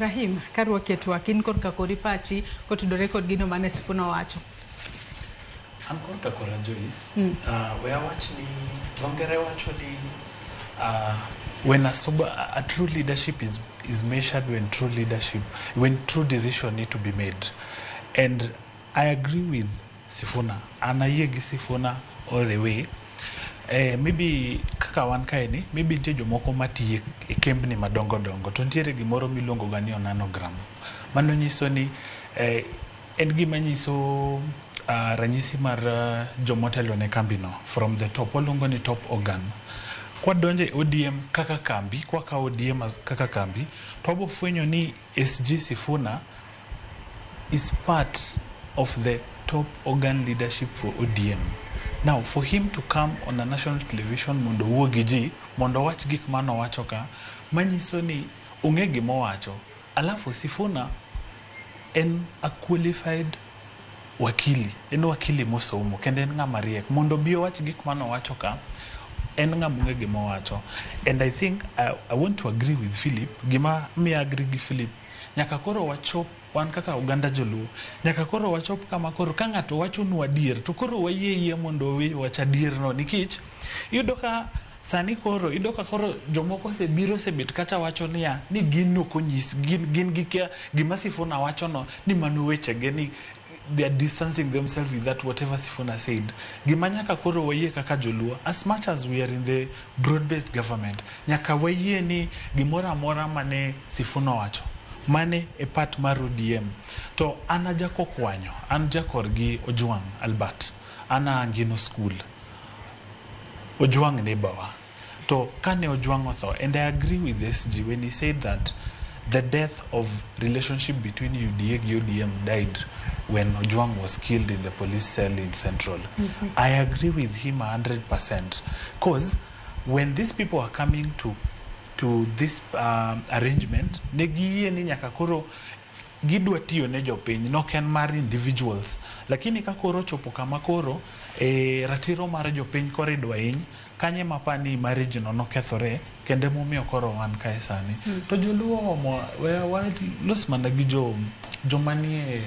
Ibrahim, ka ruoki e twak, in korka kori pachi kotudore kod gino mane Sifuna owacho. An korka kora Joyce, mm. uh, we awach ni dhongere wacho ni uh, when a, sober, a true leadership is, is measured when true leadership, when true decision need to be made. And I agree with Sifuna. An ayie gi Sifuna all the way. Eh, maybe kaka wan kae ni, maybe nitie jomoko matiyo e kembni madongo dongo to nitiere gimoro miluongo ga ni onanogram. Mano nyiso ni eh, en gima nyiso uh, ranyisi mar uh, jomotelo ne kambino from the top. Waluongo ni top organ. Kwadonjo e ODM kaka kambi, kwakawo ODM as- kaka kambi, to wabofwenyo ni SG Sifuna is part of the top organ leadership for ODM. Now for him to come on a national television mondo owuo gi ji, mondo owach gik mane owacho ka, manyiso ni ong'e gima owacho. Alafu Sifuna en a qualified wakili, en wakili mosomo kendo en ng'ama riek mondo obi owach gik mane owacho ka en ng'ama ong'e gima owacho and I think I, I want to agree with Philip gima miya agree gi Philip nyaka koro wachop wan kaka oganda joluo nyaka koro wachop kama koro ka ng'ato wachonu adier to koro wayie yie mondo owe wach adierno nikech iyudo ka Sani koro iyudo ka koro jomoko osebiro osebet kata wacho niya ni gin ok onyis gin gin gikia gima Sifuna wachono ni mano wechege ni they are distancing themselves with that whatever Sifuna said. Gima nyaka koro wayie kaka joluo as much as we are in the broad based government nyaka wayie ni gimoro amora mane Sifuna owacho mane e part mar ODM to an ajakokwanyo an jakor gi Ojwang Albert an a Angino school Ojwang ne bawa to kane Ojwang otho and I agree with SG when he said that the death of relationship between UDA gi ODM died when Ojwang was killed in the police cell in Central. Mm -hmm. I agree with him 100% because when these people are coming to to this um, arrangement ne giyie ni nyaka koro Gidwa tiyo ne jopiny nok en mar individuals lakini ka koro ochopo kama koro e, ratiro mar jopiny koro idwa hiny kanyo ema apa ni marriage no nokethore kendo emomiyo koro wan kae sani hmm. to joluo omo walos mana gi jo joma nie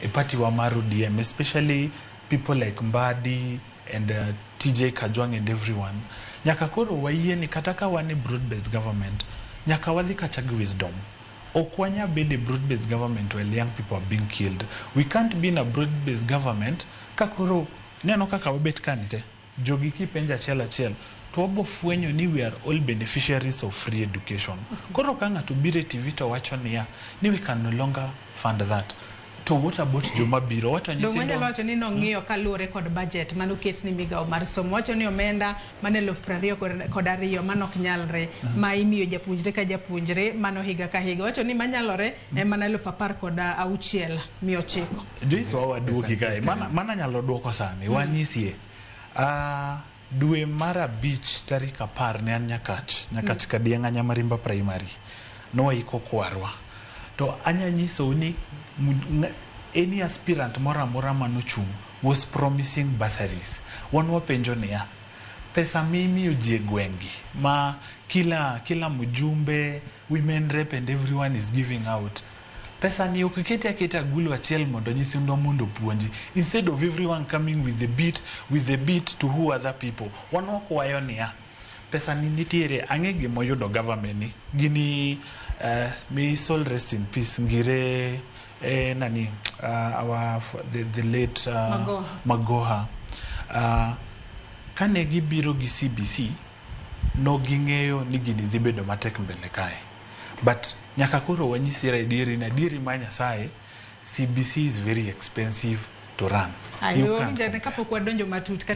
e party wa mar ODM especially people like Mbadi and uh, TJ Kajwang and everyone nyaka koro wayie ni kata ka wan e broad based government nyaka wadhi kacha gi wisdom Ok wanya bedo e broad based government while young people are being killed. We can't be in a broad based government ka koro ineno kaka wabet kani te. Jogi kipenjo achiel achiel to wabo fwenyo ni we are all beneficiaries of free education. Koro ka ng'ato biro e TV to wacho niya ni we can no longer fund that. To what about joma biro? What are Donge nyithindo? anyalo wacho ni nong'iyo kaluwore kod budget mane oket ni migawo mar somo. Wacho ni omenda mane eluf piero ariyo kod- kod ariyo mano ok nyalre ma imiyo japuonjre ka japuonjre mano higa ka higa. Wacho ni manyalore en mana eluf apar kod auchiel miya ochiko. Joyce wawaduoki kae. Mana mana nyalo duoko sani. Wanyisie. Ah Dwe mar abich tarik apar ne an Nyakach, Nyakach Kadieng'a Nyamarimba Primary. Nwaiko kwarwa. To anya nyisou ni any aspirant moro amora mane ochung' was promising bursaries. Wan wapenjo niya, pesa mimiyo ji e gweng'gi ma kila kila mjumbe, women rep and everyone is giving out, Pesani ok ikete aketa agulu achiel mondo nyithindwa mondo opuonji instead of everyone coming with the beat with the beat to who other people. Wan wakwayo niya, pesani nitiere ang'e gima oyudo government ni gini uh, may his soul rest in peace ngire eh, nani uh, our f- the, the late uh, Magoha. Magoha uh, kane gibiro gi CBC no ging'eyo ni gini dhi bedo matek mbele kae But nyaka koro wanyisira adieri na adieri ma Nyasaye, CBC is very expensive to run. You can't Ayomjane compare. kapok wadonjo matut kata